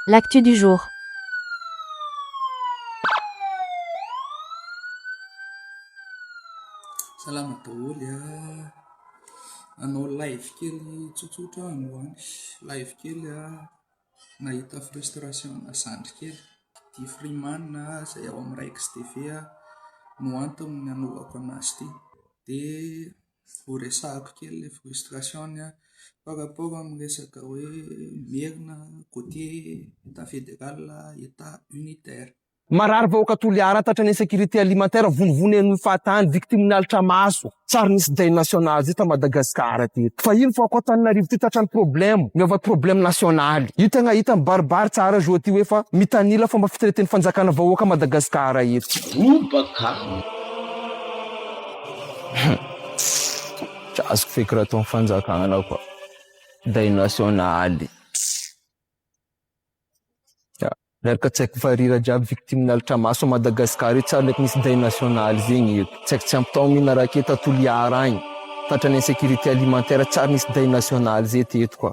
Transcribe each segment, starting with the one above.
L'actu du jour. Salama daholo a! Hanao live kely tsotsotra aho androany, live kely a! Nahita frustration ana zandry kely, ity freeman izay ao amin'ny Raikes TV no antony nanaovako an'azy ity. Dia. ho resahako kely ilay frustration-ny an, par rapport amin'ny resaka hoe Merina côté Etat fédéral, Etat unitaire. Marary vahoaka Toliara, tratran'ny insécurité alimentaire, vonivony eny fahatany, victime-ny lalitra maso, tsy ary nisy deuil national zay ta Madagascar teto. Fa ino fa ao Antananarivo ty tratran'ny problème, miova problème national. Io tegna hita mibaribary tsara zao ty hoe fa mitanila fomba fitreten'ny fanjakana vahoaka Madagascar eto. Robaka! Tsy azoko feky raha ataon'ny fanjakana koa. Deuil national. Ya, miaraka tsaiko fa rira jiaby victime nalitra maso à Madagascar io tsary leko misy deuil national zegny io. Tsaiko tsy ampy taogno io narake ta Toliara agny. Tratran'ny insécurité alimentaire tsary nisy deuil national zay teto koa.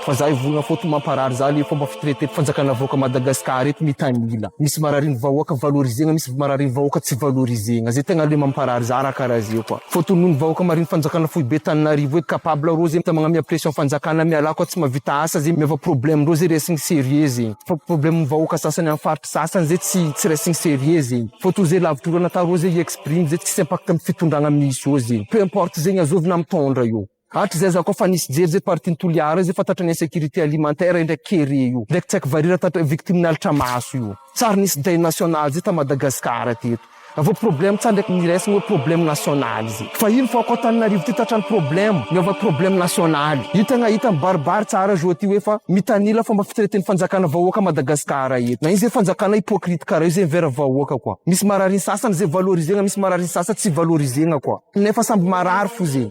Fa za hivolagna fô to mamparary za le fomba fitraite fanjakana vahoaka Madagascar eto mitanila misy marariny vahoaka valorizegna misy marariny vahoaka tsy valorizegna ze tegna le mamparary za ra kara ze koa fô tonony vahoaka mariny fanjakana foibe taninarivo eto capable rô ze mitamagna amia pression fanjakana mialà koa tsy mavita asa ze miova problème ndrô ze resigny serieux ze fa problème ny vahoaka sasany am faritry sasany ze tsy tsy resigny serieux ze fô to ze lavitry olo natao rô ze i exprime ze tsisy impact am fitondragna misy ô ze peu importe zegny azovy na mitondra io. Hatrizay za koa fa nisy jery zay partie ny Toliara zay fa tratry ny insécurité alimentaire indraiky kere io, indraiky tsy haiko varira tatra victime nalitra maso io. Tsary nisy deuil national zay ta Madagascar teto. Raha vao problème tsary indraiky miresagna hoe problème national zay. Fa ino fa ako Antananarivo ty tratran'ny problème, miova problème national. Hitagna hita mibaribary tsara zao ty hoe fa mitanila fomba fitreten'ny fanjakana vahoaka Madagascar eto. Na io zay fanjakana hypocrite kara io zay mivera vahoaka koa. Misy marary ny sasany zay valorizegna misy marary ny sasany tsy valorizegna koa. Nefa samby marary fo zay.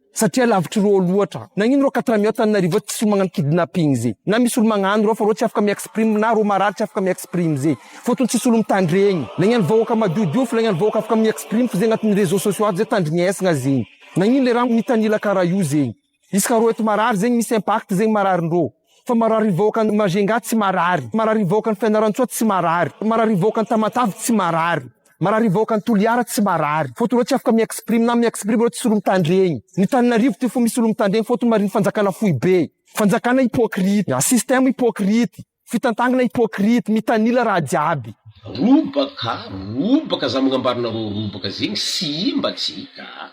Satria lavitry reo loatra. Nagnino reo quatre millions tananarivo ato tsisy olo magnano kidnapping ze. Na misy olo magnano reo fa reo tsy afaka mi exprime na reo marary tsy afaka mi exprime ze. Fotony tsisy olo mitandregny. Nagnano vahoaka madiodio fa nagnano vahoaka afaka mi exprime f'ze agnatiny reseau sociaux ato ze tandrignesgna zegny. Nagnino le raha mitanila kara io zegny. Isaka reo eto marary zegny misy impact zegny mararin reo. Fa mararin'ny vahoakan'i Majunga tsy marary, mararin'ny vahoakan'i Fianarantsoa tsy marary, mararin'ny vahoakan'i Tamatave tsy marary, mararin'ny vahoakan'i Toliara tsy marary. Faute ireo tsy afaka mi-exprime na mi-exprime ireo tsy olo-mitandregny. Ny Tananarivo ty fo misy olo-mitandregny faute marin'ny fanjakana foibe. Fanjakana hypocrite, système hypocrite, fitantagnana hypocrite, mitanila raha jiaby. Robaka, robaka za magnambarinareo robaka zegny sy imba tsy hita a!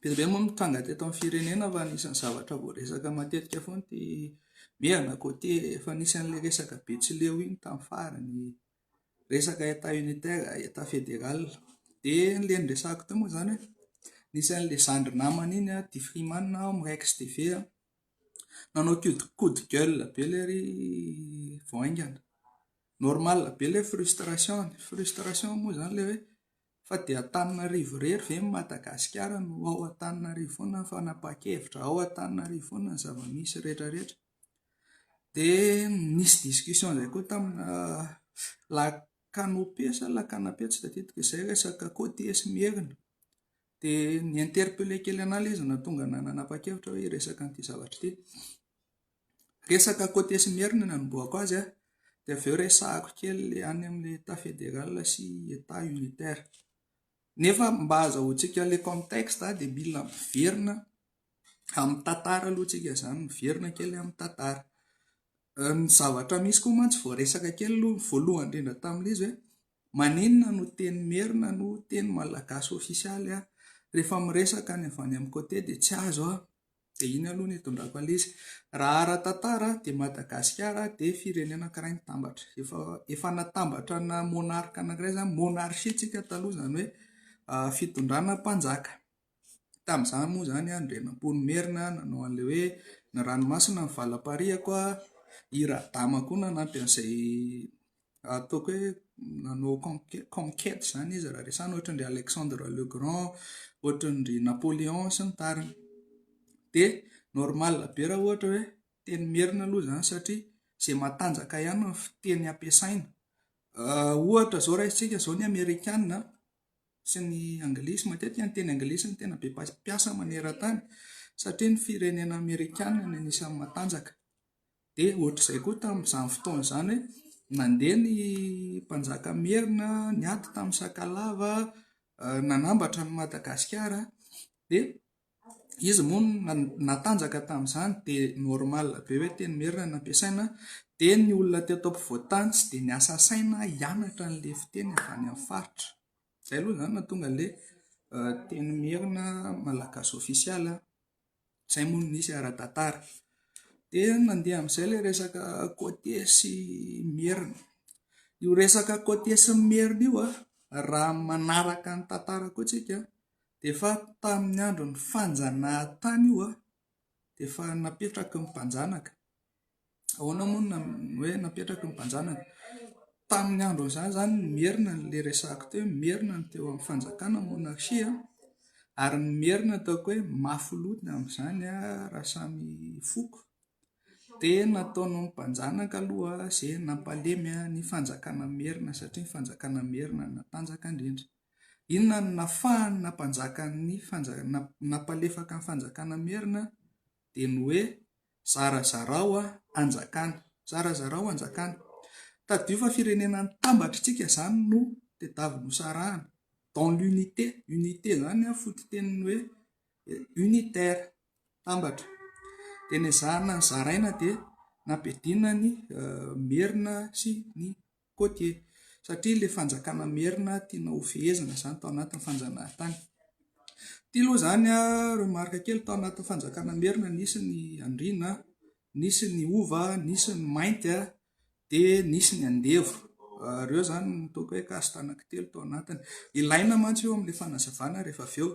Be dia be moa no tranga teto amin'ny firenena fa anisan'ny zavatra voaresaka matetika foana ity Mia na côté efa nisy an'ilay resaka Betsileo iny tamin'ny farany, resaka Etat unitaire, Etat fédéral. Dia ilay niresahako teo moa izany hoe nisy an'ilay zandry namana iny tia Freeman ao amin'ny Rex TV nanao coup de gueule be ilay ry vao haingana. Normal be ilay frustration-ny. Frustration moa izany ilay hoe. Fa dia Antananarivo irery ve ny Madagasikara no ao Antananarivo foana ny fanapahan-kevitra, ao Antananarivo foana ny zava-misy rehetra rehetra. Dia nisy discussion izay koa tamina la canopy sa la canapy tsy tadidiko izay resaka côtier sy Merina. Dia ni-interpeller kely an'ahy ilay izy nahatonga an'ahy nanapa-kevitra hoe hiresaka an'ity zavatra ity. Resaka côté sy merina no anombohako azy an, dia avy eo resahako kely any amin'ny état fédéral sy état unitaire. Nefa mba azahoantsika ilay contexte dia mila miverina amin'ny tantara aloha isika izany, miverina kely amin'ny tantara. Ny zavatra misy koa mantsy vao resaka kely aloha ny voalohany indrindra tamin'ilay izy hoe maninona no teny merina no teny malagasy ofisialy an? Rehefa miresaka ny avy any amin'ny côté dia tsy azo an! Dia iny aloha no hitondrako an'ilay Raha ara-tantara dia Madagasikara dia firenena anankiray nitambatra. Efa efa natambatra ana monarque anankiray izany, monarchie isika taloha izany hoe fitondrana mpanjaka. Tamin'izany moa izany Andrianampoinimerina nanao an'ilay hoe ny ranomasina ny valapariako, i Radama koa nanampy an'izay Ataoko hoe nanao conquête conquête izany izy raha resahina ohatra an-dry Alexandre le Grand, ohatra an-dry Napoléon sy ny tariny. Dia normal be raha ohatra hoe teny merina aloha izany satria izay matanjaka ihany no fiteny ampiasaina. Ohatra izao raisintsika izao ny amerikana sy ny anglisy, matetika ny teny anglisy no tena be mpa- mpiasa maneran-tany satria ny firenena amerikana no anisan'ny matanjaka. Dia ohatr'izay koa tamin'izany fotoana izany hoe nandeha ny mpanjaka merina niady tamin'ny sakalava, nanambatra an'i Madagasikara dia izy moa natanjaka tamin'izany dia normal be hoe teny merina no ampiasaina dia ny olona teto ampovoantany tsy dia niasa saina hianatra an'ilay fiteny avy any amin'ny faritra. Izay aloha izany no nahatonga an'ilay teny merina malagasy ofisialy. Izay moa no nisy ara-tantara. Dia nandeha amin'izay ilay resaka côtier sy merina. Io resaka côtier sy ny merina io an, raha ny manaraka ny tantara koa tsika dia efa tamin'ny andron'ny fanjanahantany io an, dia efa napetraky ny mpanjanaka Ahoana moa no hoe napetraky ny mpanjanaka? Tamin'ny andron'izany izany no merina ilay resahako teo hoe merina ny teo amin'ny fanjakana, monarchie a, ary ny merina ataoko hoe mafy loha ny amin'izany raha samy foko dia nataon'ny mpanjanaka aloha izay nampalemy ny fanjakana merina satria ny fanjakana merina no natanjaka indrindra. Inona no nafahany nampanjaka ny fanjakana, nampalefaka ny fanjakana merina? Dia ny hoe Zarazarao anjakany. Zarazarao anjakany. Tadidio fa firenena nitambatr'itsika izany no tedavy nosarahana. Dans l'unité. Unité izany an, fototenin'ny hoe unitaire. Tambatra. Dia nezahana zaraina dia nampidina ny Merina sy ny Koa dia satria ilay fanjakana merina tiana ho fehezina izany tao anatin'ny fanjanahantany. Ity aloha izany remarque kely tao anatin'ny fanjakana merina nisy ny andriana, nisy ny hova, nisy ny mainty a, dia nisy ny andevo. Ireo izany no toaka hoe caste anankitelo tao anatiny. Ilaina mantsy io amin'ilay fanazavana rehefa avy eo.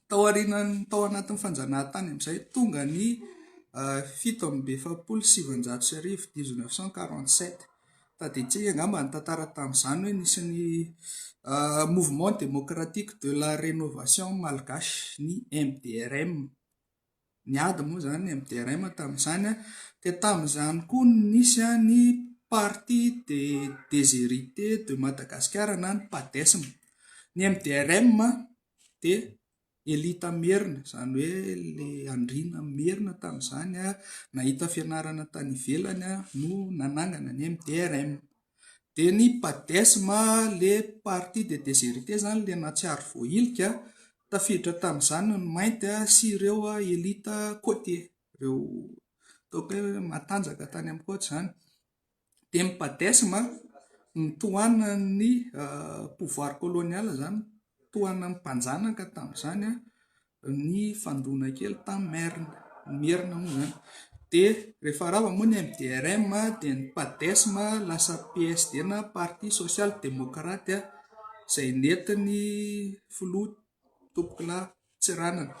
Tao aorianan'ny tao anatin'ny fanjanahantany amin'izay, tonga ny fito amby efapolo sy sivinjato sy arivo, dix neuf cent quarante sept. Tadidiantsika angamba ny tantara tamin'izany hoe nisy ny Mouvement Démocratique de la Rénovation Malgache, ny MDRM. Niady moa izany ny MDRM tamin'izany, dia tamin'izany koa no nisy ny Parti des Desherites de Madagascar na ny Padesm. Ny MDRM dia Elita Merina, izany hoe ilay Andriana Merina tamin'izany nahita fianarana tany ivelany no nanangana ny MDRM. Dia ny Padesma, le Parti des Desherites zany le nahatsiaro voahilika, tafiditra tamin'izany ny mainty sy ireo elite côtier, ireo ataoko hoe matanjaka tany amin'ny côte zany. Dia ny Padesma no tohanan'ny pouvoir colonial zany, tohanan'ny mpanjanaka tamin'izany. ny fandroana kely tamin'ny Merina, ny Merina moa izany dia rehefa rava moa ny MDRM dia ny Padesm lasa PSD na Parti Sosialy Demokraty izay nentin'ny filoha Tompokolahy Tsiranana,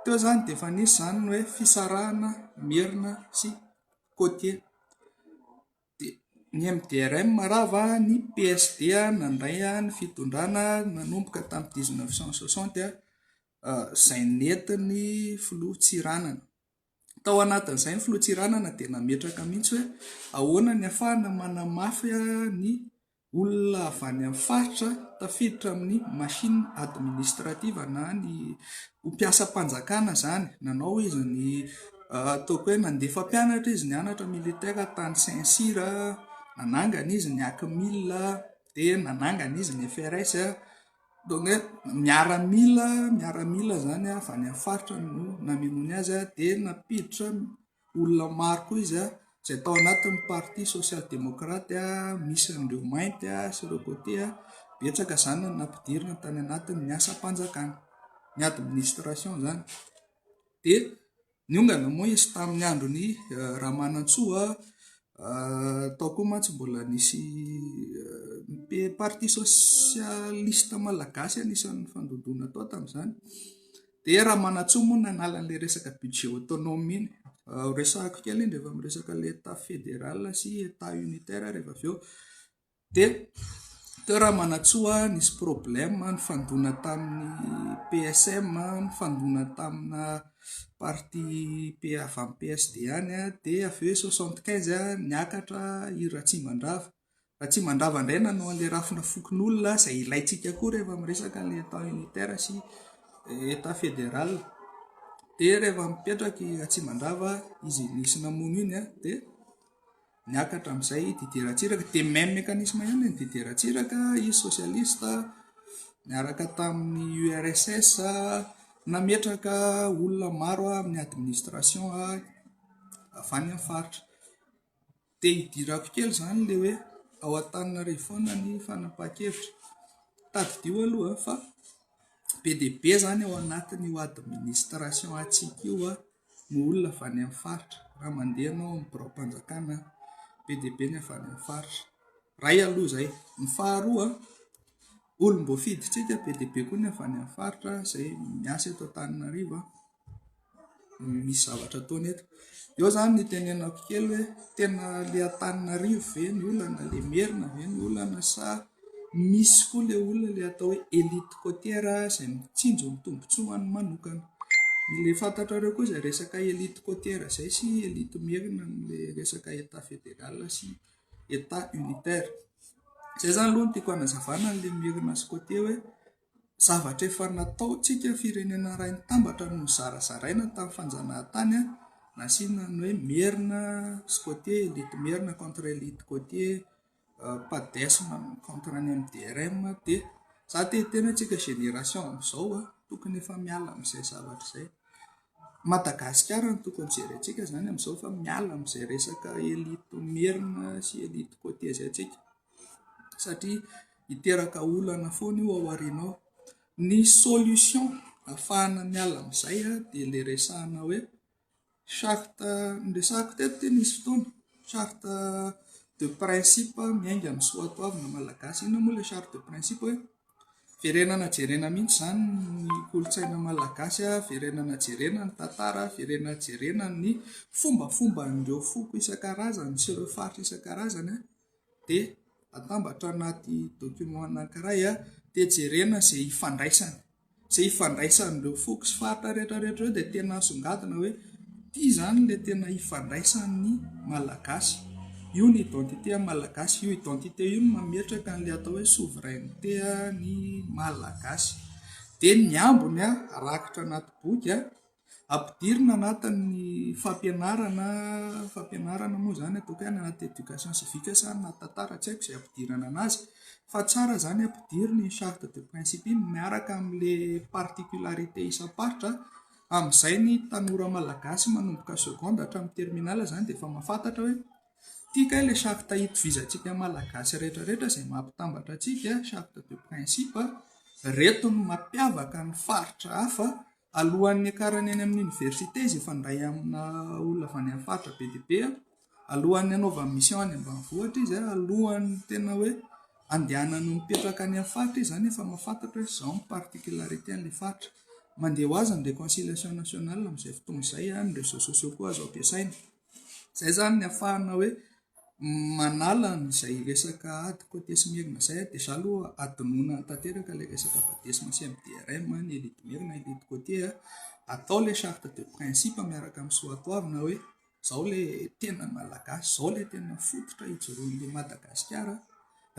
teo izany dia efa nisy izany ny hoe fisarahana Merina sy Côtiers. Ny MDRM rava ny PSD nandray ny fitondrana nanomboka tamin'ny dix neuf cent soixante izay nentin'ny filoha Tsiranana. Tao anatin'izay ny filoha Tsiranana dia nametraka mihitsy hoe ahoana ny ahafahana manamafy ny Olona avy any amin'ny faritra tafiditra amin'ny machine administrative na ny ho mpiasam-panjakana izany. Nanao izy ny ataoko hoe nandefa mpianatra izy nianatra militaire tany Saint Cyr, nanangana izy ny ACMIL, dia nanangana izy ny FRS. Donc hoe miaramila miaramila izany avy any amin'ny faritra no namelony azy dia nampiditra Olona maro koa izy izay tao anatin'ny parti sosialy demokraty misy an'ireo mainty sy ireo côté betsaka izany no nampidirina tany anatin'ny asam-panjakana, ny administration izany dia niongana moa izy tamin'ny andron'i Ramanantsoa tao koa mantsy mbola nisy parti sosialista malagasy anisan'ny nifandondona tao tamin'izany. Dia raha manatsoa moa ny analan'ilay resaka budget autonome iny, resahiko kely indry efa miresaka ilay état fédéral sy état unitaire rehefa avy eo, dia teo raha manatsoa nisy problème nifandona tamin'ny PSM, nifandona tamina partie avy amin'ny PSD any dia avy eo soixante quinze niakatra i Ratsimandrava. fa tsy mandrava indray nanao an'ilay rafina fokonolona izay ilaintsika koa rehefa miresaka ny état unitaire sy état fédéral dia rehefa mipetraka i Ratsimandrava izy nisy namono iny a dia niakatra amin'izay Didier Ratsiraka dia même mécanisme ihany ny Didier Ratsiraka izy socialiste niaraka tamin'ny URSS nametraka olona maro amin'ny administration avy any amin'ny faritra Dia idirako kely izany ilay hoe ao Antananarivo foana ny fanapahan-kevitra. Tadidio aloha fa be dia be izany ao anatin'io administration antsika io no olona avy any amin'ny faritra. Raha mandeha ianao amin'ny biraom-panjakana be dia be ny avy any amin'ny faritra. Iray aloha izay. Ny faharoa, olom-boafidintsika be dia be koa ny avy any amin'ny faritra izay miasa eto Antananarivo. misy zavatra ataony eto. Eo izany ny itenenako kely hoe tena ilay Antananarivo ve no olana, ilay Merina ve no olana sa misy koa ilay olona ilay atao hoe elite côtière izay mitsinjo ny tombontsoany manokana. Ilay fantatrareo koa izay resaka elite côtière izay sy elite Merina amin'ilay resaka Etat fédéral sy Etat unitaire. Izay izany aloha no tiako hanazavana an'ilay Merina sy côtier hoe. Zavatra efa nataontsika firenena iray nitambatra no nozarazaraina tamin'ny fanjanahantany an, nasiana ny hoe merina sy côtier, elite merina contre elite côtier, padesm contre ny MDRM dia za te hiteny hoe antsika génération amin'izao an, tokony efa miala amin'izay zavatra izay. Madagasikara no tokony jerentsika izany amin'izao fa miala amin'izay resaka elite merina sy elite côtier izay antsika. satria hiteraka olana foana io ao aoriana ao. Ny solution ahafahana miala amin'izay dia ilay resahana hoe charte, niresahako teto ity nisy fotoana, charte de principe miainga amin'ny soatoavina malagasy. Inona moa ilay charte de principe hoe verenana jerena mihitsy izany ny kolontsaina malagasy, verenana jerena ny tantara, verenana jerena ny fombafomban'ireo foko isan-karazany sy ireo faritra isan-karazany. dia atambatra anaty document anankiray dia jerena izay hifandraisany, izay hifandraisan'ireo foko sy faritra rehetra rehetra ireo dia tena asongadina hoe ity izany ilay tena hifandraisan'ny Malagasy. Io ny identité Malagasy, io identité io no mametraka an'ilay atao hoe souveraineté ny Malagasy. Dia ny ambiny rakitra anaty boky. Ampidirina anatin'ny fampianarana, fampianarana moa izany ataoko hoe any anaty éducation civique sa any anaty tantara tsy haiko izay ampidirana an'azy fa tsara izany ampidirina iny charte de principe iny miaraka amin'ilay particularité isam-paritra amin'izay ny tanora malagasy manomboka seconde hatramin'ny terminale izany dia efa mahafantatra hoe ity kay ilay charte itovizantsika malagasy rehetrarehetra izay maha mpitambatra antsika charte de principe ireto no mampiavaka ny faritra hafa. Alohan'ny hiakarany any amin'ny oniversite izay fandray amina olona avy any amin'ny faritra be dia be, alohan'ny hanaovany mission any ambanivohitra izy, alohan'ny tena hoe andehanany mipetraka any amin'ny faritra izy izany efa mahafantatra hoe izao ny particularité an'ilay faritra. Mandeha ho azy ny réconciliation nationale amin'izay fotoana izay, ny réseaux sociaux koa azo ampiasaina. Izay izany ny hafahana hoe manala an'izay resaka ady côté sy Merina izay dia izaho aloha hadinoina tanteraka ilay resaka Badesma sy MDRM ny elite Merina elite côté a, atao ilay charte de principe miaraka amin'ny soatoavina hoe izao ilay tena malagasy, izao ilay tena fototra ijoroan'ilay Madagasikara,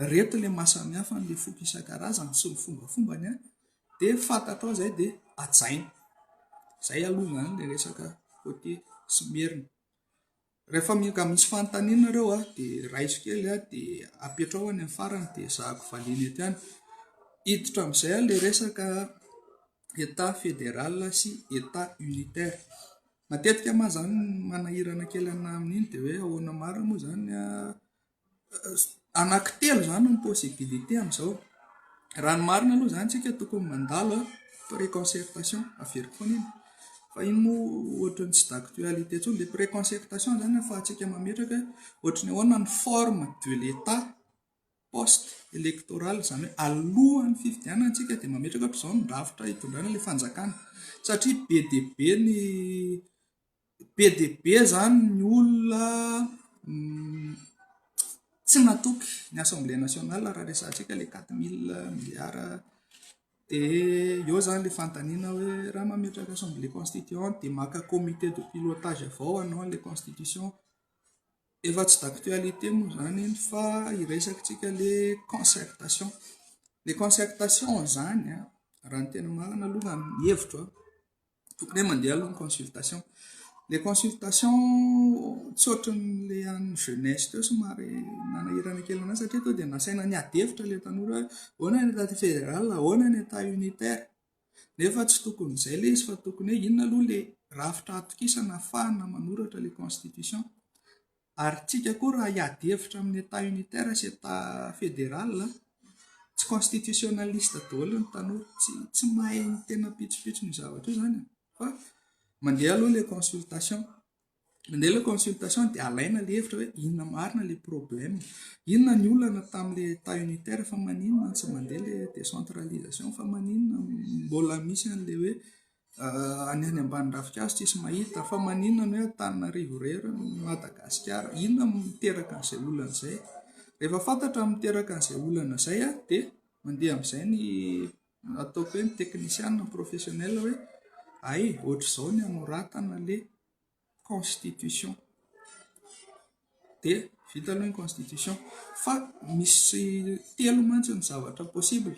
ireto ilay maha samihafa an'ilay foko isan-karazany sy ny fombafombany a. Dia ny fantatrao izay dia hajaina. Izay aloha izany ilay resaka côté sy Merina. Rehefa mioka misy fanontaniana ireo dia raiso kely dia apetraho any amin'ny farany dia ezahako valiana ety ihany. Hiditra amin'izay ilay resaka Etat fédéral sy Etat unitaire. Matetika moa izany manahirana kely anah amin'iny dia hoe ahoana marina moa izany anaky telo izany ny possibilité amin'izao. Raha ny marina aloha izany isika tokony mandalo pré-concertation, averiko foana iny. Fa iny moa ohatran'ny tsy d'actualité intsony. Ilay pré-concertation izany ahafahantsika mametraka hoe ohatran'ny ahoana ny forme de l'Etat post électoral, izany hoe alohan'ny fifidianana isika dia mametraka hoe izao ny drafitra hitondrana ilay fanjakana satria be dia be ny Be dia be izany ny olona tsy matoky ny assemblée nationale raha resahantsika ilay quatre mille milliards. Dia eo izany ilay fanontaniana hoe raha mametraka assemblée constituante dia maka comité de pilotage avy ao ianao an'ilay constitution. Efa tsy d'actualité moa izany iny fa hiresaka antsika ilay concertation. Ilay concertation izany an, raha ny tena marina aloha ny hevitro an! tokony hoe mandeha aloha ny consultation le consultation tsy ohatry ny le an'ny jeunesse teo somary nanahirana kely anay satria tonga dia nasaina niady hevitra le tanora hoe ahoana ny état fédéral ahoana ny état unitaire nefa tsy tokony izay ilay izy fa tokony hoe inona aloha le rafitra atokisana ahafahana manoratra le constitution Ary tsika koa raha hiady hevitra amin'ny Etat unitaire sy Etat federal a! Tsy constitutionaliste daholo ny tanora, tsy tsy mahay ny tena pitsopitso ny zavatra io izany fa mandeha aloha ilay consultation, mandeha ilay consultation dia alaina ilay hevitra hoe inona marina ilay problème, inona ny olana tamin'ilay Etat unitaire fa maninona no tsy mandeha ilay décentralisation, fa maninona mbola misy an'ilay hoe. Any any ambany ravinkazo tsisy mahita fa maninona ny hoe Antananarivo irery no Madagasikara? Inona no miteraka an'izay olana izay? Rehefa fantatra ny miteraka an'izay olana izay dia mandeha amin'izay ny ataoko hoe ny teknisiana, ny professionnel hoe hay ohatr'izao ny anoratana le constitution dia vita aloha ny constitution fa misy telo mantsy ny zavatra possible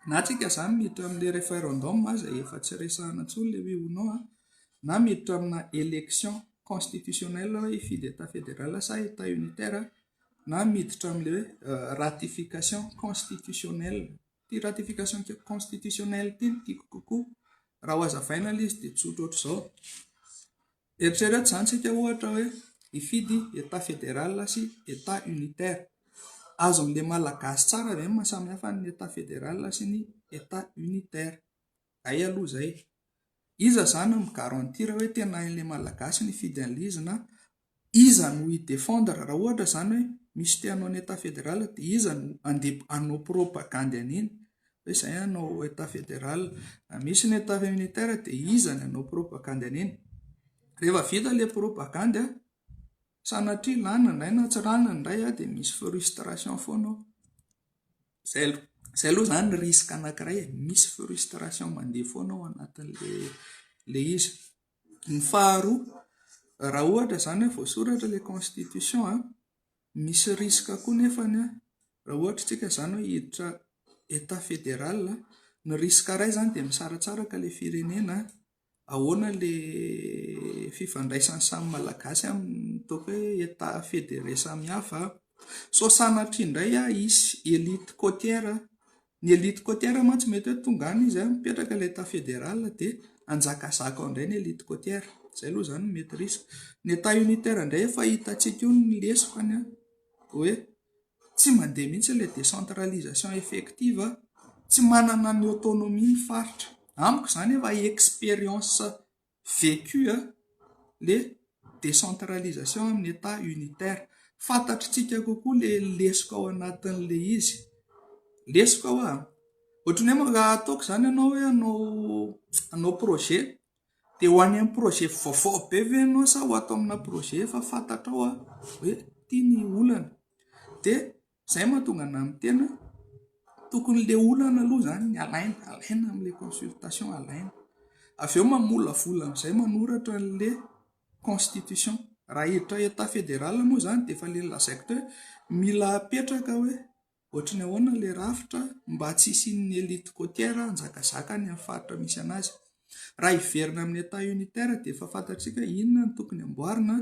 na tsika zany miditra amle referendum aza efa tsy resahana tsony le oui ou non an na miditra amina election constitutionnel hoe hifidy etat federal sa etat unitaire na miditra amle hoe ratification constitutionnel Ity ratification constitutionnelle ity no tiako kokoa. Raha hohazavaina ilay izy dia tsotra ohatr'izao. Eritrereto izany isika ohatra hoe hifidy Etat fédéral sy Etat unitaire. Azon'ilay Malagasy tsara ve ny maha samihafa ny Etat fédéral sy ny Etat unitaire? Zay aloha zay. Iza zany no mi garantir hoe tena hain'le malagasy ny hifidy an'le izy na iza no hi defendre raha ohatra zany hoe misy te hanao ny etat federal dia iza no handeha hanao propagandy an'iny hoe zay hanao etat federal raha misy ny etat unitaire dia iza ny hanao propagandy an'iny rehefa vita le propagandy a sanatria lany indray na tsy rany indray a dia misy frustration foana ao Izay aloha, izay aloha izany risque anankiray e, misy frustration mandeha foana ao anatin'ilay izy. Ny faharoa, raha ohatra izany hoe voasoratra ilay constitution an, misy risque koa nefany an, raha ohatra isika izany hoe hiditra Etat fédéral, ny risque iray izany dia misaratsaraka ilay firenena, Ahoana ilay fifandraisan'ny samy Malagasy amin'ny ataoko hoe État fédéré samihafa? Sao sanatria indray hisy élite côtière? Ny élite côtière mantsy mety hoe tonga any izy, mipetraka ilay État fédéral dia hanjakazaka ao indray ny élite côtière. Izay aloha izany no mety risque. Ny État unitaire indray efa hitantsika eo ny lesy fa ny hoe. Tsy mandeha mihitsy ilay décentralisation effective, tsy manana ny autonomie ny faritra. Amiko izany efa expérience vécue ilay décentralisation amin'ny Etat unitaire. Fantatritsika kokoa ilay lesoka ao anatin'ilay izy. Lesoka hoa? Ohatran'ny hoe raha ataoko izany ianao hoe hanao projet Dia ho any amin'ny projet vaovao be ve ianao sa ho ato amina projet efa fantatrao hoe ity ny olana? Dia izay no mahatonga anahy miteny hoe tokony ilay olana aloha izany no alaina, alaina amin'ilay consultation, alaina. Avy eo mamolavola amin'izay manoratra an'ilay constitution. Raha hiditra Etat fédéral moa izany dia efa ilay nolazaiko teo hoe mila apetraka hoe Ohatry ny ahoana ilay rafitra mba tsy hisian'ny elite côtière hanjakazaka any amin'ny faritra misy an'azy? Raha hiverina amin'ny Etat unitaire dia efa fantatsika inona no tokony amboarina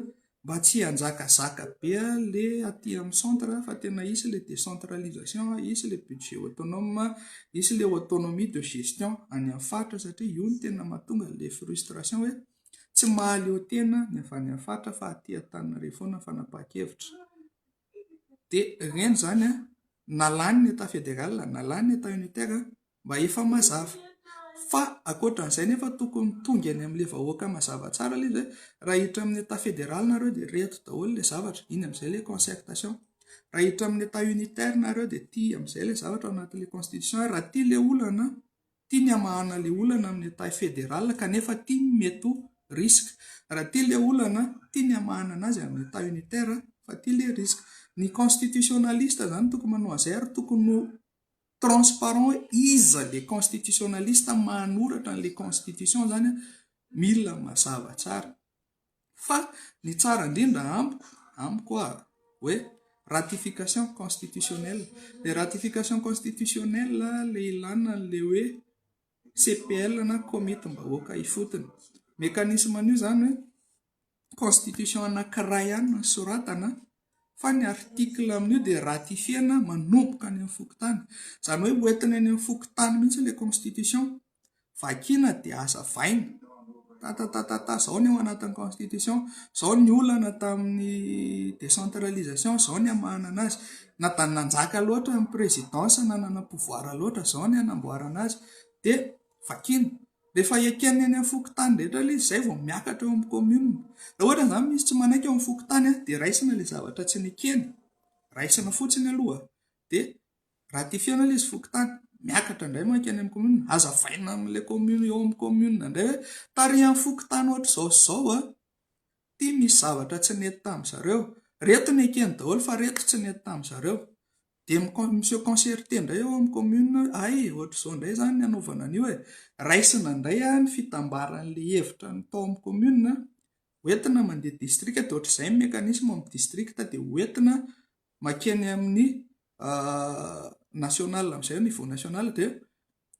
mba tsy hanjakazaka be ilay aty amin'ny centre fa tena hisy ilay décentralisation, hisy ilay budget autonome, hisy ilay autonomie de gestion any amin'ny faritra satria io no tena mahatonga ilay frustration hoe tsy mahaleo tena ny avy any amin'ny faritra fa aty Antananarivo foana ny fanapahan-kevitra. dia ireny izany na lany ny Etat federal na lany ny Etat unitaire mba efa mazava fa ankoatra izay nefa tokony tonga eny amin'ilay vahoaka mazava tsara ilay izy hoe raha hiditra amin'ny Etat federal nareo dia ireto daholo ilay zavatra, iny amin'izay ilay concertation, raha hiditra amin'ny Etat unitaire nareo dia ity amin'izay ilay zavatra ao anatin'ilay constitution, raha ity ilay olana an! Ity ny hamahana ilay olana amin'ny taille fédérale kanefa ity ny mety ho risque. Raha ity ilay olana, ity ny hamahana anazy amin'ny taille unitaire fa ity ilay risque. Ny constitutionnaliste izany tokony manao an'izay ary tokony ho transparent hoe iza ilay constitutionnaliste manoratra an'ilay constitution izany mila mazava tsara. Fa ny tsara indrindra amiko, amiko â! hoe ratification constitutionnelle. Ilay ratification constitutionnelle ilay ilàna an'ilay hoe CPL na komitim-bahoaka ifotony. Mécanisme an'io izany hoe constitution anankiray ihany no soratana. fa ny article amin'io dia ratifier-na manomboka any amin'ny fokontany, izany hoe ho entina eny amin'ny fokontany mihitsy ilay constitution, vakiana dia hazavaina, tatatatata, izao ny ao anatin'ny constitution, izao ny olana tamin'ny décentralisation, izao ny hamahana an'azy, na dia nanjaka loatra ny présidence, na nanana pouvoir loatra, izao ny hanamboarana azy, dia vakiana. Rehefa eken'ny eny amin'ny fokontany rehetra ilay izy izay vao miakatra eo amin'ny commune. Raha ohatra izany misy tsy manaiky eo amin'ny fokontany dia raisina ilay zavatra tsy nekeny, raisina fotsiny aloha dia ratifier-na ilay izy fokontany, miakatra indray manko eny amin'ny commune, hazavaina amin'ilay commune eo amin'ny commune indray hoe tarihan'ny fokontany ohatr'izao sy izao an, ity misy zavatra tsy nety tamin'ny zareo, ireto nekeny daholo fa ireto tsy nety tamin'ny zareo. Dia mi-se concerter indray ao amin'ny commune hoe hay e, ohatr'izao indray izany ny hanaovana an'io e. Raisina indray ny fitambaran'ilay hevitra tao amin'ny commune, ho entina mandeha distrika, dia ohatr'izay ny mécanisme amin'ny distrika, dia ho entina mankeny amin'ny national amin'izay, au niveau national, dia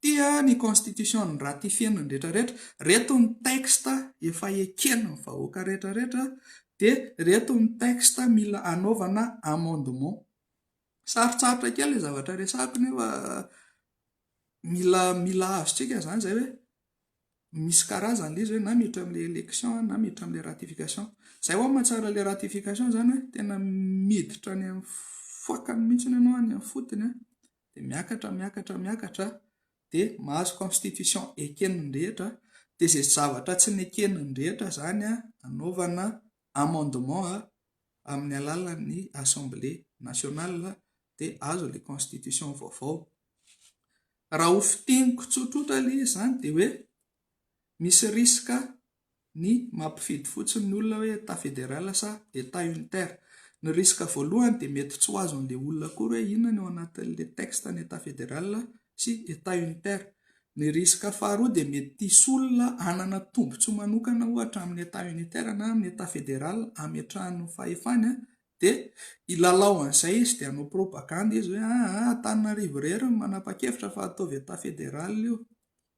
Tia ny constitution ny ratifier ny rehetra rehetra, reto ny texte efa eken ny vahoaka rehetra rehetra dia reto ny texte mila anaovana amendement. Sarotsarotra kely le zavatra resahako nefa mila mila azontsika izany izay hoe misy karazany le izy hoe na miditra amin'ilay election na miditra amin'ilay ratification. Izay ho'a mahatsara ilay ratification izany hoe tena miditra any amin'ny fokany mihitsy ianao any amin'ny fotony an! dia miakatra, miakatra, miakatra, dia mahazo constitution eken'ny rehetra, dia izay zavatra tsy neken'ny rehetra izany anaovana amendement amin'ny alalan'ny Assemblée nationale dia azo ilay constitution vaovao. Raha ho fintiniko tsotsotra aloha izy izany dia hoe misy risque ny mampifidy fotsiny ny olona hoe Etat fédéral sa Etat unitaire. Ny risque voalohany dia mety tsy ho azon'ilay olona akory hoe inona no ao anatin'ilay texte ny Etat fédéral sy Etat unitaire. Ny risque faharoa dia mety hisy olona hanana tombotsoa manokana ohatra amin'ny Etat unitaire na amin'ny Etat fédéral hametrahany ny fahefany dia hilalao an'izay izy dia hanao propagande izy hoe aa Antananarivo irery no manapa-kevitra fa ataovy Etat fédéral io.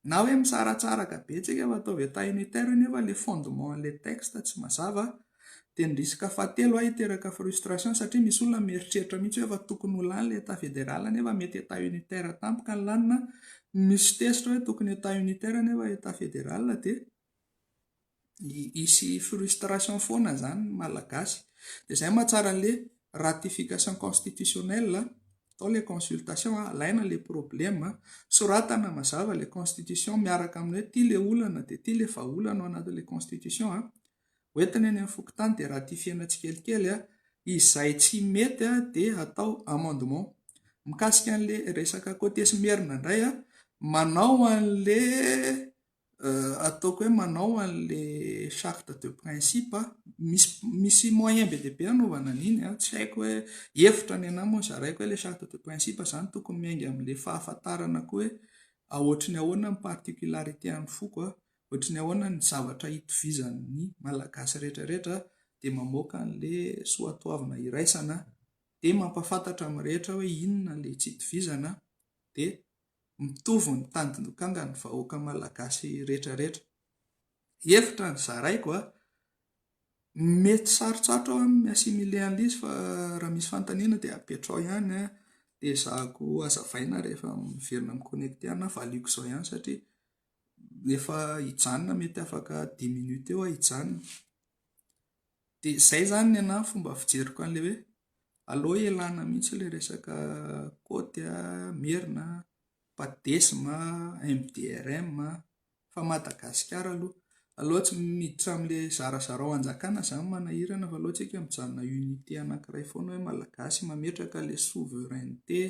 Na hoe misaratsaraka betsaka fa ataovy atao unitaire nefa le fondement an'ilay texte tsy mazava dia ny risque fahatelo a hiteraka frustration satria misy olona mieritreritra mihitsy hoe efa tokony ho lany le état fédéral nefa mety état unitaire tampoka ny lanina, misy tezitra hoe tokony état unitaire nefa état fédéral dia Hisy frustration foana izany ny Malagasy. Dia izay no mahatsara an'ilay ratification constitutionnelle, atao ilay consultation, alaina ilay problème, soratana mazava ilay constitution miaraka amin'ny hoe ity ilay olana dia ity ilay vahaolana ao anatin'ilay constitution. Ho entina eny amin'ny fokontany dia ratifier-na tsikelikely. Izay tsy mety dia atao amendement. Mikasika an'ilay resaka côté sy merina indray, manao an'ilay. Ataoko hoe manao an'le charte de principe aho, misy misy moyen be dia be anaovana an'iny an, tsy haiko hoe hevitra ny anah moa ny zaraiko hoe le charte de principe zany tokony miainga am'le fahafantarana koa hoe aotry ny ahoana ny particularité an'ny foko an, ohatry ny ahoana ny zavatra itovizan'ny malagasy rehetra rehetra dia mamoaka an'le soatoavina iraisana dia mampahafantatra amin'ny rehetra hoe inona le tsy itovizana dia mitovy ny tandindokangan'ny vahoaka malagasy rehetra rehetra. Hevitra ny zaraiko a! Mety sarotsarotro aho amin'ny assimile an'l'izy fa raha misy fanontaniana dia apetrao ihany a! Dia ezahako hazavaina rehefa miverina mi-connecter anà, valiako izao ihany satria efa hijanona mety afaka dix minutes eo aho hijanona. Dia izay izany ny anà ny fomba fijeriko an'ilay hoe Aleo ialana mihitsy ilay resaka côte a, merina a, padesm a, MDRM a, fa Madagasikara aloha. Aleo tsy miditra amin'ilay zarazarao hanjakana izany manahirana fa aleo tsika mijanona unité anankiray foana hoe Malagasy mametraka ilay souveraineté.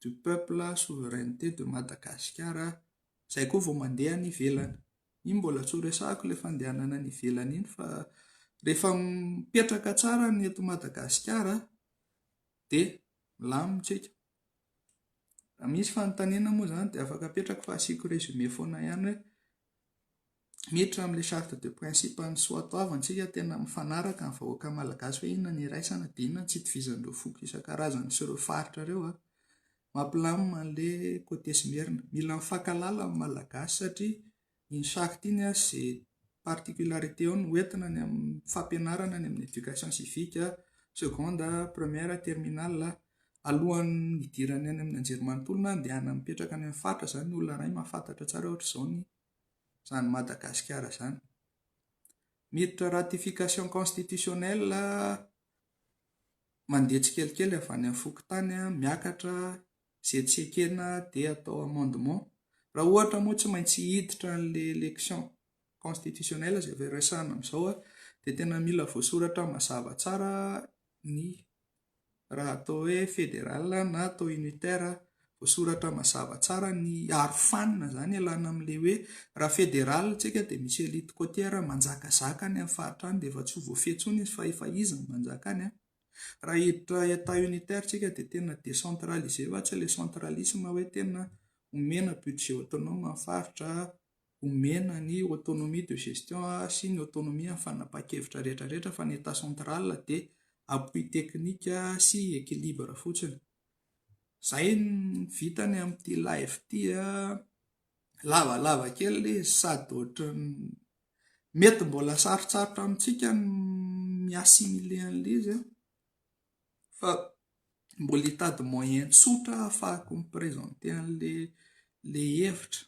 du peuple souveraineté de Madagasikara izay koa vao mandeha any ivelany. Iny mbola tsy ho resahako ilay fandehanana any ivelany iny fa rehefa mipetraka tsara ny eto Madagasikara dia milamina isika. Raha misy fanontaniana moa izany dia afaka apetrako fa asiako résumé foana ihany hoe. miditra amin'ilay charte de principe an'ny soatoavantsika tena mifanaraka amin'ny vahoaka malagasy hoe inona ny iraisana dia inona ny tsy itovizan'ireo foko isan-karazany sy ireo faritra ireo an. Mampilamina an'ilay côté sy Merina. Mila mifankahalala amin'ny malagasy satria iny charte iny an, izay particularité ao no ho entina any amin'ny fampianarana any amin'ny éducation civique, seconde, première, terminale. Alohan'ny hidirany any amin'ny anjerimanontolo na handehanany mipetraka any amin'ny faritra izany ny olona iray mahafantatra tsara ohatra izao ny izany Madagasikara izany. Miditra ratification constitutionnelle mandeha tsikelikely avy any amin'ny fokontany miakatra izay tsy ekena dia atao amendement. Raha ohatra moa tsy maintsy hiditra an'ilay élection constitutionnelle izay efa resahana amin'izao dia tena mila voasoratra mazava tsara ny raha atao hoe fédéral na atao unitaire, voasoratra mazava tsara ny arofanina izany ialana amin'ilay hoe raha fédéral isika dia misy elite côtière manjakazaka any amin'ny faritra any dia efa tsy ho voafehy intsony izy fa efa izy no manjaka any, raha hiditra état unitaire isika dia tena décentralisé fa tsy ilay centralisme hoe tena omena budget autonome ny faritra. Omena ny autonomie de gestion sy ny autonomie amin'ny fanapahan-kevitra rehetra rehetra fa ny Etat central dia appui technique sy équilibre fotsiny. Izay ny vitany amin'ity live ity a! Lavalava kely ilay izy sady ohatran'ny mety mbola sarotsarotra amintsika ny mi-assimiler an'ilay izy a! Fa mbola hitady moyen tsotra ahafahako mi-presenter an'ilay ilay hevitra.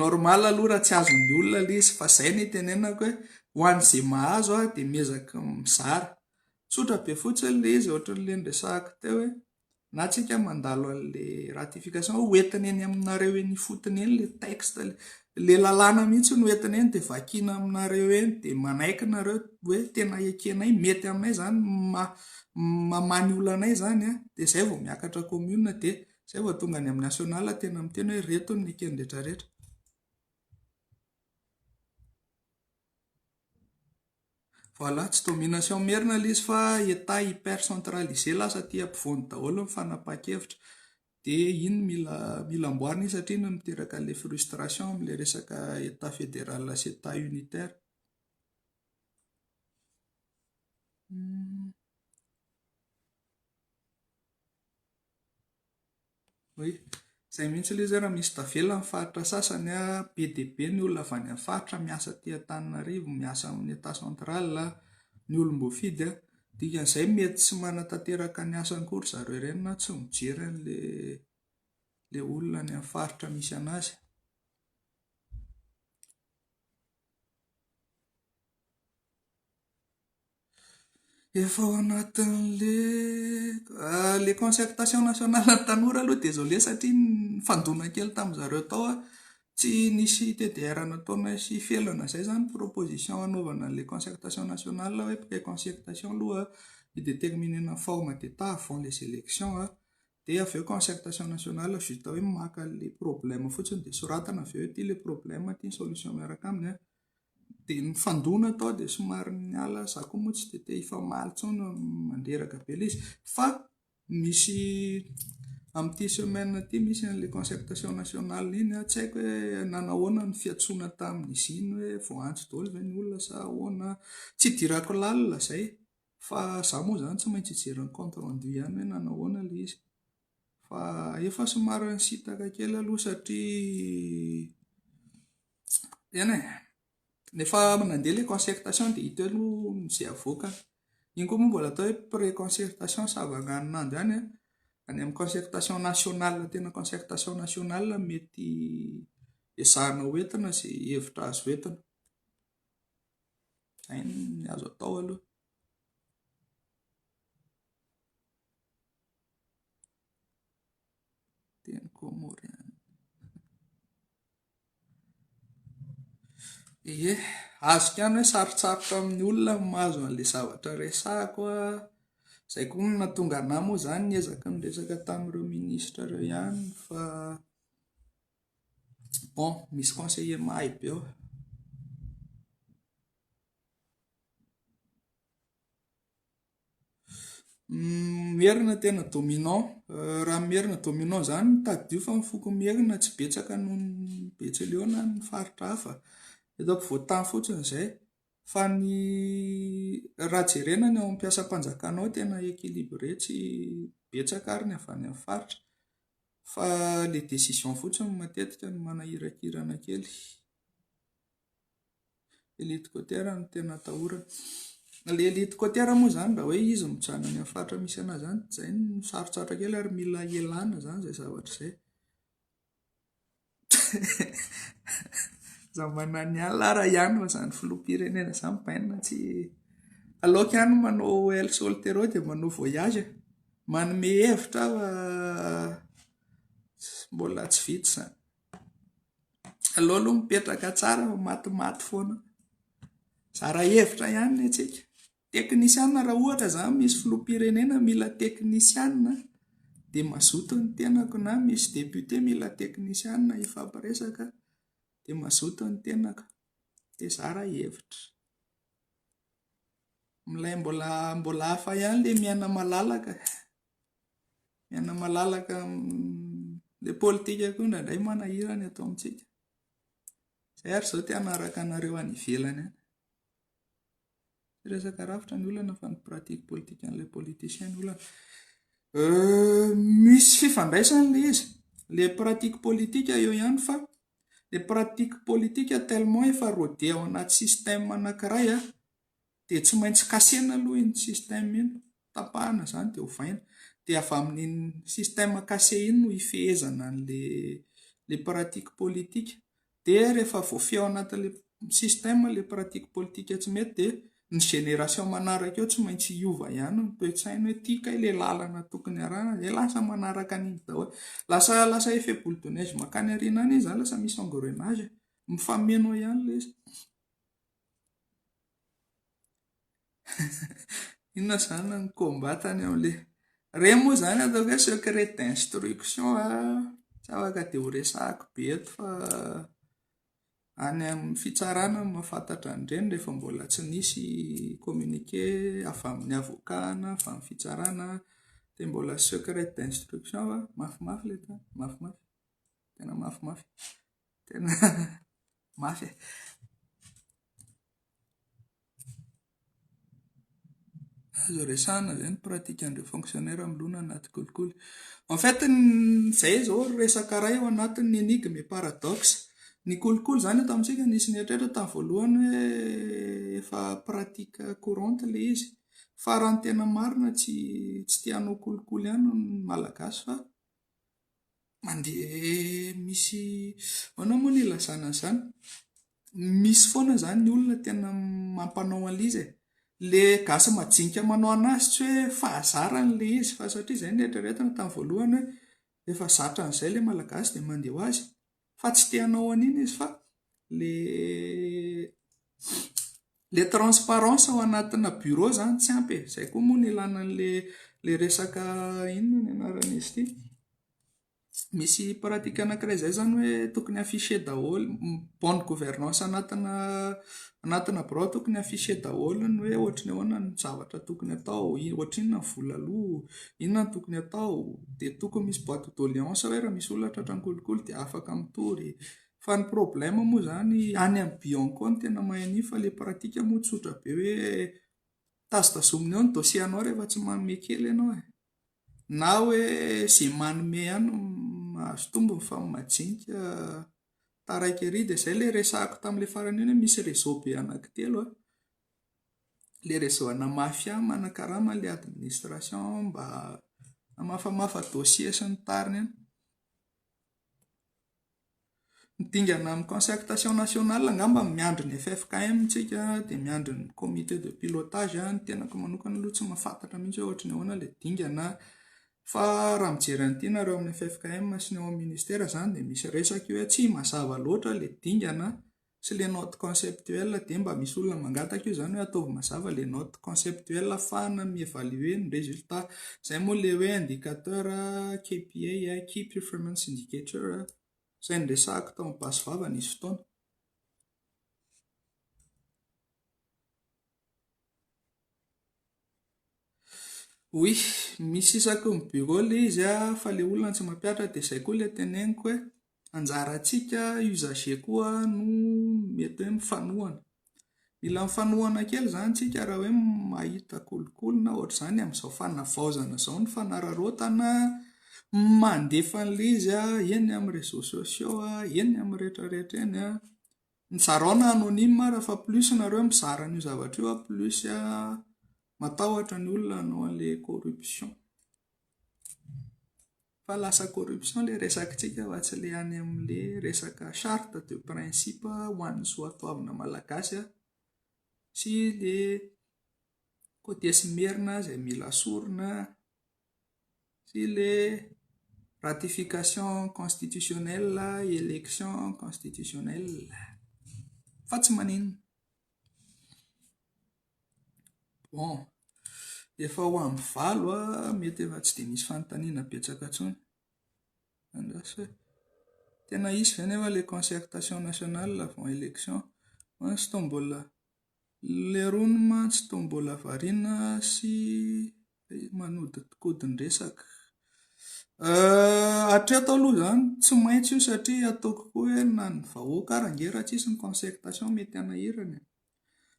normal aloha raha tsy azon'ny olona ilay izy fa izay no itenenako hoe ho an'izay mahazo aho dia miezaka mizara, tsotra be fotsiny ilay izy ohatran'ilay niresahako teo hoe. na tsika mandalo an'le ratification ho entina eny aminareo eny ifotony eny le texte le le lalàna mihitsy no entina eny dia vakina aminareo eny dia manaiky nareo hoe tena ekenay mety aminay zany ma mamany olanay zany a dia zay vao miakatra commune dia zay vao tonga any amin'ny national tena miteny hoe reto ny ekeny retraretra Voilà, tsy domination merina ilay izy fa Etat hyper centralisé lasa aty ampovoany daholo ny fanapahan-kevitra. Dia iny no mila mila amboarina iny satria iny no miteraka an'ilay frustration amin'ilay resaka Etat fédéral sy Etat unitaire. Oy, izay mihitsy ilay izy ary misy tavela amin'ny faritra sasany an, be dia be ny olona avy any amin'ny faritra miasa aty Antananarivo, miasa amin'ny Etat central, ny olom-boafidy an, dikan'izay mety tsy manatanteraka ny asany koa ry zareo ireny na tsy mijery an'ilay ilay olona any amin'ny faritra misy an'azy. Efa ao anatin'le le concertation nationale ny tanora aloha désolé satria nifandona kely tamin'ny zareo tao aho, tsy nisy TDR nataona sy felana izay izany proposition hanaovana an'ilay concertation nationale hoe après concertation aloha hi-déterminer-na ny forme d'état avant les élections an, dia avy eo concertation nationale vita hoe maka an'ilay problème fotsiny dia soratana avy eo hoe ity ilay problème, ity ny solution miaraka aminy an. Dia nifandona tao dia somary niala, za koa moa tsy dia te hifamaly intsony mandreraka be ilay izy fa misy amin'ity semaine ity misy an'ilay concertation nationale iny an, tsy haiko hoe nanao ahoana ny fiantsoana tamin'izy iny hoe vao antso daholo ve ny olona sa ahoana, tsy idirako lalina izay fa za moa izany tsy maintsy hijery ny compte rendu ihany hoe nanao ahoana ilay izy. Fa efa somary nisintaka kely aloha satria tena e. Rehefa nandeha ilay concertation dia hita eo aloha izay avoakany. Iny koa moa mbola atao hoe pré-concertation sa vanganin'andro ihany an. Any amin'ny concertation nationale tena concertation nationale no mety ezahina ho entina izay hevitra azo entina. Izay no azo atao aloha. Teny kômôriana. Ie, azoko ihany hoe sarotsarotra amin'ny olona ny mahazo an'ilay zavatra resahako an, izay koa no nahatonga anà moa izany niezaka niresaka tamin'ireo minisitra ireo ihany fa bon, misy conseiller mahay be ao. Merina tena dominant, raha ny Merina dominant izany no tadidio fa ny foko Merina tsy betsaka noho ny Betsileo na ny faritra hafa, eto ampovoantany fotsiny izay, fa ny raha jerena ny ao amin'ny mpiasam-panjakana ao tena équilibré tsy betsaka ary ny avy any amin'ny faritra fa ilay décision fotsiny matetika no manahirakirana kely. Helicoptère no tena atahorana. Ilay helicoptère moa izany raha hoe izy mijanona any amin'ny faritra misy an'azy izany dia izay no sarotsarotra kely ary mila ialana izany izay zavatra izay. Izaho mananon'ny alina ary ihany fa izany filoham-pirenena izany bainina tsy, aleoko ihany manao el sol terreau dia manao voyage e. Manome hevitra aho fa mbola tsy vita izany. Aleo aloha mipetraka tsara fa matimaty foana. Zara hevitra ihany ny antsika. Teknisiana raha ohatra za misy filoham-pirenena mila teknisiana dia mazoto ny tenako na misy député mila teknisiana hifampiresaka dia mazoto ny tenako dia zara hevitra. Milay mbola mbola hafa ihany ilay miaina malalaka. Miaina malalaka ilay politika koa indraindray manahira ny ato amintsika. Izay ary izao te hanaraka anareo any ivelany any. Tsy resaka rafitra ny olana fa ny pratique politique an'ilay politicien ny olana. Euh, misy fifandraisany ilay izy. Ilay pratique politique eo ihany fa ilay pratique politique tellement efa rodé ao anaty système anankiray an. Dia tsy maintsy kasena aloha iny système iny, tapahana izany dia ovaina. Dia avy amin'iny système kase iny no hifehezana an'ilay pratique politique. Dia rehefa voafehy ao anatin'ilay système ilay pratique politique tsy mety dia ny génération manaraka eo tsy maintsy hiova ihany ny toe-tsainy hoe tia kay ilay lalana tokony harahina dia lasa manaraka an'iny daholo. Lasa lasa effet boule de neige mankany aoriana any izy izany, lasa misy engrenage e. Mifameno eo ihany ilay izy. Inona izany ny combat tany amin'ilay. Ireny moa izany ataoko hoe secret d'instruction tsy afaka dia horesahiko be eto fa any amin'ny fitsarana no mahafantatra an'ireny rehefa mbola tsy nisy communiqué avy amin'ny avocat na avy amin'ny fitsarana dia mbola secret d'instruction fa mafimafy ilay tany, mafimafy, tena mafimafy, tena. Mafy e! Azo resahana ve ny pratikan'ireo fonctionnaires milona anaty kolikoly? En fait, izay izao ry resaka iray ao anatin'ny énigme et paradoxe. Ny kolikoly izany eto amintsika nisy nieritreritra tamin'ny voalohany hoe efa pratique courante ilay izy. Fa raha ny tena marina tsy tsy te hanao kolikoly ihany ny Malagasy fa. mandeha misy ahoana moa no ilazana an'izany? Misy foana izany ny olona tena mampanao an'ilay izy e. Ilay gasy majinika manao an'azy tsy hoe fahazarany ilay izy fa satria izay no noeritreretiny tamin'ny voalohany hoe efa zatra an'izay ilay Malagasy dia mandeha ho azy. fa tsy te hanao an'iny izy fa ilay ilay transparence ao anatina bureau izany tsy ampy e, izay koa moa no ilàna an'ilay resaka inona ny anaran'izy ity, misy pratique anankiray izay izany hoe tokony afficher daholo ny bonne gouvernance anatina Anatina birao tokony afficher daholo ny hoe ohatry ny ahoana ny zavatra tokony atao, ohatry inona ny vola aloa, inona no tokony atao, dia tokony misy boite de doléance hoe raha misy olona tratran'ny kolikoly dia afaka mitory. Fa ny problème moa izany any amin'ny bion-ko any tena mahay an'iny fa ilay pratique moa tsotra be hoe tazotazomina eo ny dossier anao rehefa tsy manome kely ianao e! na hoe izay manome ihany no mahazo tombony fa ny majinika. taraiky ery dia izay ilay resahako tamin'ilay farany iny hoe misy réseau be anankitelo a, ilay réseau ana mafia manakarama an'ilay administration mba hamafamafa dossier sy ny tariny any. Ny dingana amin'ny concertation nationale angamba no miandry ny ffkm tsika dia miandry ny comité de pilotage, ny tenako manokana aloha tsy mahafantatra mihintsy hoe ohatran'ny ahoana ilay dingana Fa raha mijery an'ity nareo amin'ny ffkm sy ny ao amin'ny ministera izany dia misy resaka io hoe tsy mazava loatra ilay dingana sy ilay note conceptuelle dia mba misy olona mangataka io izany hoe ataovy mazava ilay note conceptuelle hafahana mi evaluer ny résultat izay moa ilay hoe indicateur KPI key performance indicator izay niresahako tao amin'ny basy vava nisy fotoana Oui, misy isaky ny bureau ilay izy fa ilay olona tsy mampihatra dia izay koa ilay teneniko hoe anjarantsika usagers koa no mety hoe mifanohana. Mila mifanohana kely izany isika raha hoe mahita kolikoly na ohatr'izany amin'izao fanavaozana izao ny fanararaotana mandefa an'ilay izy eny amin'ny réseaux sociaux, eny amin'ny rehetra rehetra eny. Mizarao na anonyme ara fa plus nareo mizara an'io zavatra io a plus matahotra ny olona hanao an'ilay corruption. Fa lasa corruption ilay resakintsika fa tsy ilay any amin'ilay resaka charte de principe ho an'ny soatoavina malagasy sy ilay cotiers merina izay mila sorona. sy le ratification constitutionnelle election constitutionnelle fa tsy maninona bon efa ho amby valo ah mety efa tsy dia misy fanontaniana betsaka intsony andraso e tena hisy ve nefa le concertation nationale avant election fa izy ito mbola Lerony mantsy toa mbola variana sy manodikodin-dresaka. Hatreto aloha izany tsy maintsy io satria ataoko koa hoe na ny vahoaka ary ange raha tsisy ny concertation mety hanahirana e.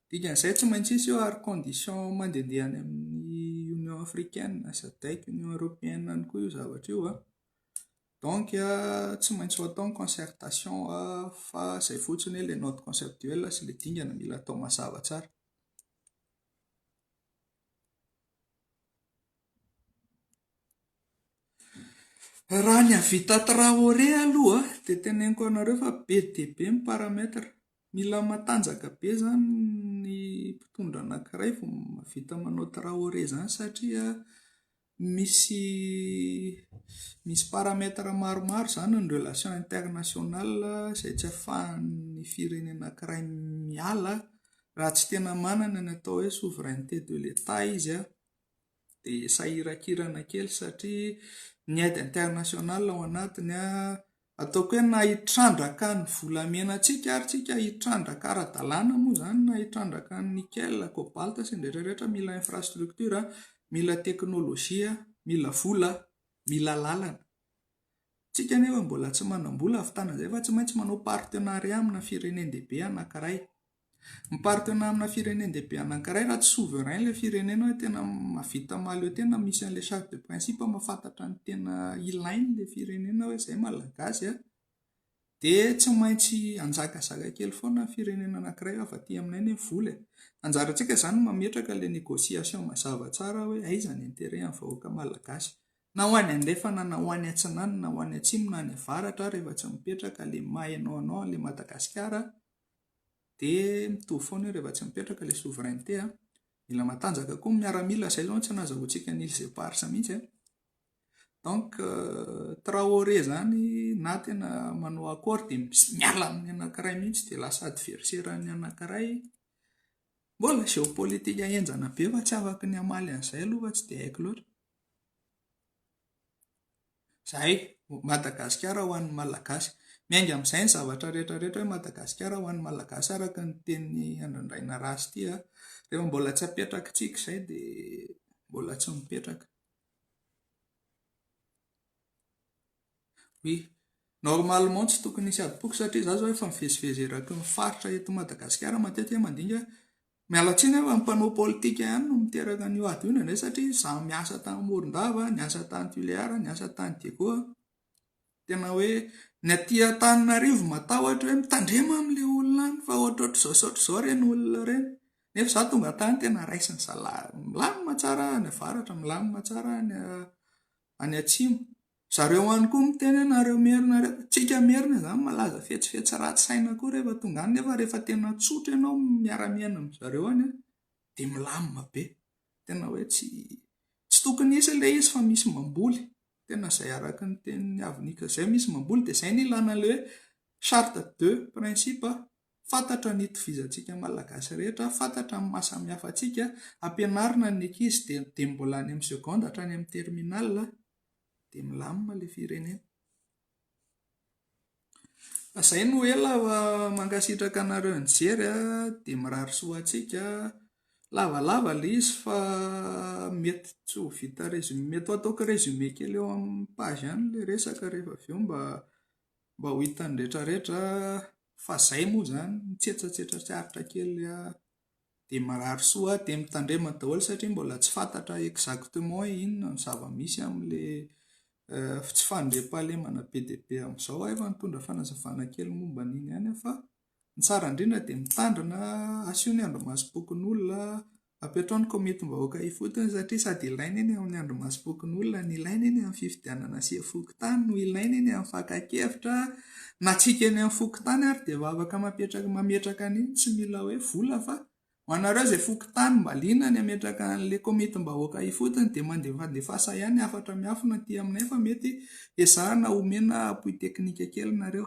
Dikan'izay tsy maintsy hisy io ary condition mandehandeha any amin'ny Union africaine, SADEC, Union européenne any koa io zavatra io an. Donc tsy maintsy ho atao ny concertation fa izay fotsiny hoe ilay note conceptuelle sy ilay dingana mila atao mazava tsara. Raha ny hahavita traoré aloha dia teneniko anareo fa be dia be ny paramètre. Mila matanjaka be izany ny mpitondra anankiray vao mahavita manao traoré izany satria Misy misy paramètres maromaro izany ny relations internationales izay tsy afahan'ny firenena anankiray miala raha tsy tena manana ny atao hoe souveraineté de l'Etat izy an, dia sahirakirana kely satria ny aide internationales ao anatiny an, Ataoko hoe na hitrandraka ny volamenantsika ary tsika hitrandraka ara-dalàna moa izany na hitrandraka ny nickel, cobalt sy ny rehetra rehetra mila infrastructure, mila teknolojia, mila vola, mila lalana. Tsika nefa mbola tsy manam-bola hahavitana izay fa tsy maintsy manao partenariat amina firenen-dehibe anankiray. Miparitaona amina firenen-dehibe anankiray raha tsy souverain ilay firenena hoe tena mahavita mahaleo tena misy an'ilay charte de principe mahafantatra ny tena ilain'ilay firenena hoe izay malagasy a, dia tsy maintsy hanjakazaka kely foana ny firenena anankiray hafa aty aminay anie ny vola e. Anjarantsika izany no mametraka ilay négociation mazava tsara hoe aiza ny intérêt an'ny vahoaka malagasy, na ho any andrefana na ho any atsinanana na ho any atsimo na any avaratra ary rehefa tsy mipetraka ilay maha hainao anao an'ilay Madagasikara, dia mitovy foana io rehefa tsy mipetraka ilay souveraineté a. Mila matanjaka koa ny miaramila, izay aloha no tsy nazahoantsika an'i Îles Éparses mihitsy a. Donc euh, Traoré izany na tena manao accord dia miala amin'ny anankiray mihitsy dia lasa adversaire an'ny anankiray. Mbola géopolitique henjana be fa tsy afaka ny hamaly an'izay aloha fa tsy dia haiko loatra. Izay, Madagasikara ho an'ny Malagasy. Miainga amin'izay ny zavatra rehetra rehetra hoe Madagasikara ho an'ny Malagasy araka ny tenin'i Andrandraina Raha sy tia. Rehefa mbola tsy apetraky tsiky izay dia mbola tsy mipetraka. Oui. Normalement tsy tokony hisy adim-poko satria izaho izao efa mivezivezy eraky ny faritra eto Madagasikara matetika mandinika Miala tsiny aho fa ny mpanao politika ihany no miteraka an'io ady io indraindray satria izaho miasa tany Morondava, niasa tany Tuléar, niasa tany Diego, tena hoe ny aty Antananarivo matahotra hoe mitandrema amin'ilay olona any fa ohatrohatr'izao sy ohatr'izao ireny olona ireny. Nefa izaho tonga tany tena raisin'ny zalahy milamina tsara any avaratra, milamina tsara any any atsimo. Zareo any koa miteny hoe nareo merina reo. Tsika merina zany malaza fetsifetsy ratsy saina koa rehefa tonga any nefa rehefa tena tsotra ianao miara miaina amin zareo any an dia milamina be. Tena hoe tsy tsy tokony hisy ilay izy fa misy mamboly. Tena zay araka ny tenin'ny avy nika zay misy mamboly dia zay ny ilana ilay hoe charte de principe. Fantatra ny itovizantsika Malagasy rehetra, fantatra ny maha samihafa antsika, ampianarina ny ankizy dia dia mbola any amin'ny seconde hatrany amin'ny terminal dia milamina ilay firenena. Izay no ela fa mankasitraka anareo nijery a, dia mirary soa ho antsika. Lavalava ilay izy fa mety tsy ho vita résumé, mety ho ataoko résumé kely eo amin'ny page ihany ilay resaka rehefa avy eo mba mba ho hitan'ny rehetrarehetra. Fa zay moa zany mitsetsatsetra tsy aritra kely a dia marary soa a dia mitandrema daholo satria mbola tsy fantatra exactement hoe inona no zava-misy amin'ilay tsy fandriampahalemana be dia be amin'izao aho efa nitondra fanazavana kely momba an'iny ihany aho fa ny tsara indrindra dia mitandrina asio ny andrimasom-pokonolona Apetrao ny komitim-bahoaka ifotony satria sady ilaina eny amin'ny andrimasom-pokonolona no ilaina eny amin'ny fifidianana asia fokontany no ilaina eny amin'ny fakan-kevitra na tsy hika eny amin'ny fokontany ary dia vavaka mapetraka mametraka an'iny tsy mila hoe vola fa ho anareo izay fokontany mba liana ny hametraka an'ilay komitim-bahoaka ifotony dia mandefandefasa ihany hafatra miafina aty aminay fa mety ezahana homena appui technique kely nareo